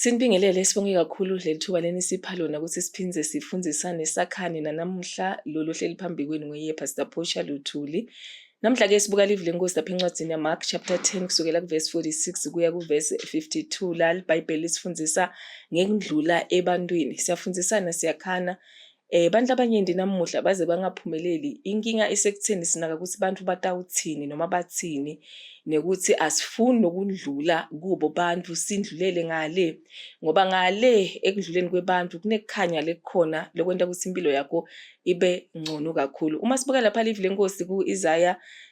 Sinibingelele sibonge kakhulu leli thuba lenisipha lona ukuthi siphinde sifundisane sakhane nanamuhla lolu hleli phambi kwenu ngoye Pastor Portia Luthuli. Namhla ke sibuka live lenkosi lapha encwadini yaMark chapter 10 kusukela kuverse 46 kuya kuverse 52 la iBhayibheli lisifundisa ngekundlula ebantwini. Siyafundisana siyakhana Eh abantu abanyenti namuhla baze bangaphumeleli. Inkinga isekutheni sinaka ukuthi abantu batawuthini noma bathini nekuthi asifuni nokundlula kubo bantu sindlulele ngale ngoba ngale ekudluleni kwebantu kunekukhanya lekukhona lokwenta ukuthi impilo yakho ibe ngcono kakhulu. Uma sibuka lapha live lenkosi ku Isaiah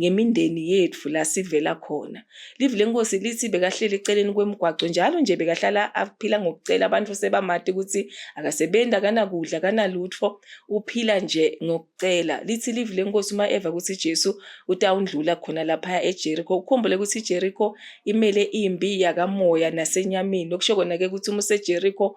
ngemindeni yethu la sivela khona. Livi lenkosi lithi bekahleli eceleni kwemigwaqo njalo nje bekahlala aphila ngokucela abantu sebamati ukuthi akasebenzi akanakudla akanalutho uphila nje ngokucela. Lithi livi lenkosi uma eva ukuthi Jesu utawundlula khona lapha eJericho. Ukhumbule ukuthi iJericho imele imbi yakamoya nasenyameni okusho kona ke ukuthi uma useJericho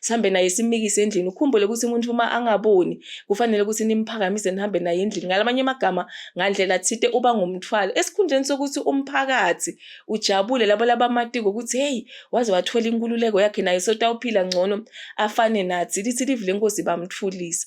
sihambe naye simikise endlini ukhumbule ukuthi umuntu uma angaboni kufanele ukuthi nimphakamise nihambe naye endlini ngalamanye amagama ngandlela thite uba ngumthwalo esikhundleni sokuthi umphakathi ujabule labo labamatiko ukuthi hey waze wathola inkululeko yakhe naye sotawuphila ngcono afane nathi lithi livi lenkosi bamthulisa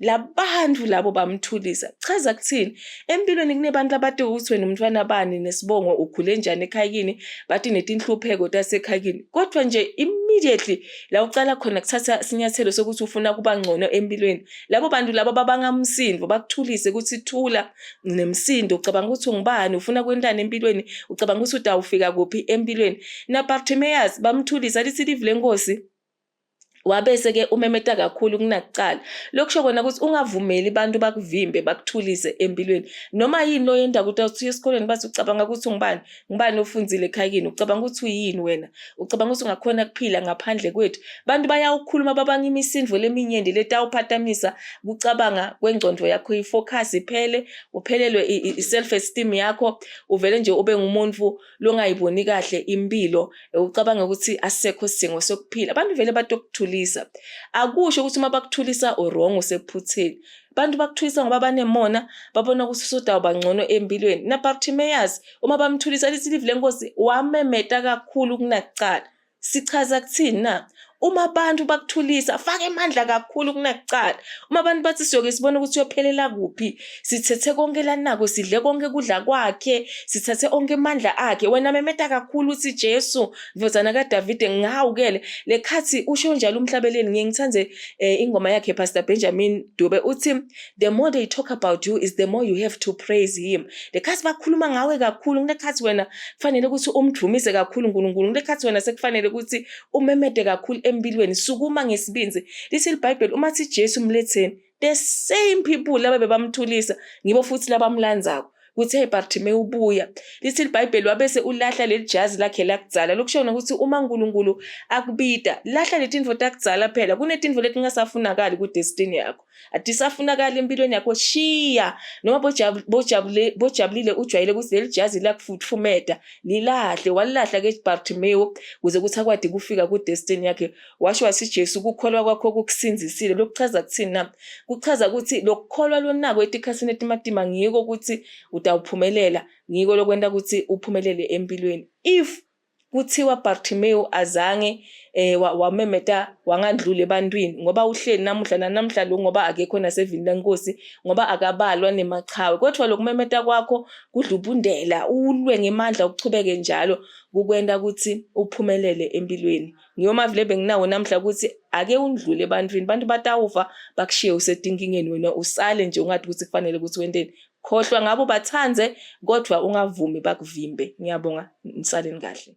labantu labo bamthulisa chaza kuthini empilweni kunebantu abade ukuthi wena umntwana bani nesibongo ukhule njani ekhayini bathi netinhlupheko tasekhayini kodwa nje immediately la ucala khona kuthatha sinyathelo sokuthi ufuna kuba ngcono empilweni labo bantu labo babangamsindo bakuthulise ukuthi thula nemsindo ucabanga ukuthi ungubani ufuna kwentana empilweni ucabanga ukuthi utawufika kuphi empilweni na Bartimaeus bamthulisa lithi live lenkosi wabese-ke umemeta kakhulu kunakuqala lokhu kusho kona ukuthi ungavumeli abantu bakuvimbe bakuthulise empilweni noma yini lo yenda ukuthi usuye esikoleni bathi ucabanga ukuthi ungubani ngubani ofundile ekhayini ucabanga ukuthi uyini wena ucabanga ukuthi ungakhona kuphila ngaphandle kwethu abantu bayawukhuluma babanga imisindvo leminyenti letawuphatamisa kucabanga kwengcondvo yakho ifocus iphele uphelelwe i-self esteem yakho uvele nje ube ngumuntu lungayiboni kahle impilo ucabanga ukuthi asekho isidingo sokuphila abantu vele bathi okuthulisa akusho ukuthi uma bakuthulisa urong usephutheni abantu bakuthulisa ngoba banemona babona ukuthi usudawu bangcono empilweni nabartimeyazi uma bamthulisa lithi livi lenkosi wamemeta kakhulu kunakuqala Sichaza kuthini na? Uma abantu bakuthulisa, faka emandla kakhulu kunakuqala. Uma abantu bathi siyoke sibone ukuthi uyophelela kuphi, sithethe konke lanako, sidle konke kudla kwakhe, sithathe onke emandla akhe. Wena memeta kakhulu uthi Jesu, ndodana kaDavide, ngihawukele. Le khathi usho njalo umhlabeleli, ngiye ngithande eh, ingoma yakhe Pastor Benjamin Dube uthi the more they talk about you is the more you have to praise him lekhathi bakhuluma ngawe kakhulu kulekhathi wena kufanele ukuthi umdumise kakhulu uNkulunkulu kulekhathi wena sekufanele ukuthi umemede kakhulu empilweni sukuma ngesibinzi lithi iBhayibheli uma thi Jesu umletheni the same people laba bebamthulisa ngibo futhi labamlandzako kuthi hey Bartimaeus ubuya lithi iBhayibheli wabese ulahla leli jazi lakhe lakudzala lokushona ukuthi uma uNkulunkulu akubita lahla letinfo takudzala phela kunetinfo letingasafunakali ku destiny yakho adisafunakala empilweni yakho shiya noma bojabulile ujwayele ukuthi leli jazi lakufutfumeta lilahle walilahla ke bartimewu kuze kuthi akwadi kufika kudestiny yakhe washo wasi jesu ukukholwa kwakho kukusinzisile lokuchaza kuthini na kuchaza ukuthi lokukholwa lonako etikhathini etimatima ngiko ukuthi utawuphumelela ngiko lokwenta ukuthi uphumelele empilweni if kuthiwa Bartimewu azange eh wamemeta wangandluli ebantwini ngoba uhleli namuhla nanamhla lo ngoba akekho nasevini lenkosi ngoba akabalwa nemachawe kodwa lokumemeta kwakho kudlubundela ulwe ngemandla ukuchubeke njalo kukwenda ukuthi uphumelele empilweni ngiyoma vile benginawo namhla ukuthi ake undlule ebantwini abantu batawufa bakushiye usetinkingenweni usale nje ungathi ukuthi kufanele ukuthi wenteni Khohlwa ngabo bathande kodwa ungavumi bakuvimbe. Ngiyabonga nisaleni kahle.